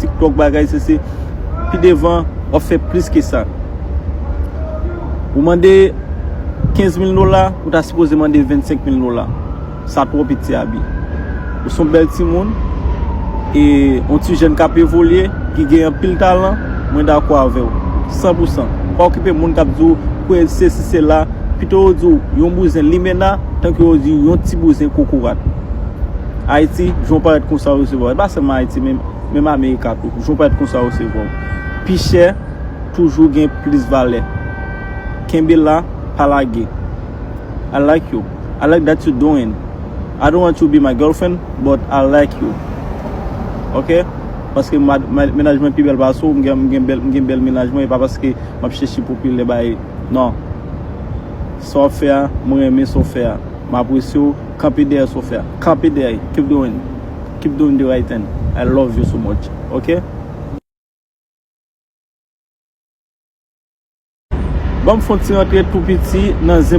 tiktok bagay se se pi devan wap fè plis ke sa ou mande 15 mil dola ou ta sipoze mande 25 mil dola sa twò piti abi ou son bèl ti moun e yon ti jèn kap evolye ki gen yon pil talan mwen da kwa avèw 100 pou 100 pa okipe moun kap di ou kwe se si se la pito yo di ou yon bouzen limena tanke yo di yon ti bouzen kokorat. Ayiti, jan w parèt konsa yo resevwa w. E pa sèlman Ayiti, menm Amerika tou. Jan w parèt konsa yo resevwa w. Pi chè toujou gen plis valè. Kenbe la, pa lage. I like you. I like that you doing. I don't want you be my girlfriend, but I like you. Ok? Paske mennaj mwen pi bèl pase w, m gen bèl mennaj mwen, e pa paske m ap chèche popilè bay. Non. Sa w ap fè a, mwen renmen sa w fè a. M apresye w. Kanpe dèyè sofè a kanpe dèyè li keep doing keep doing the right thing I love you so much ok. Banm fon ti rantre tou piti nan zen.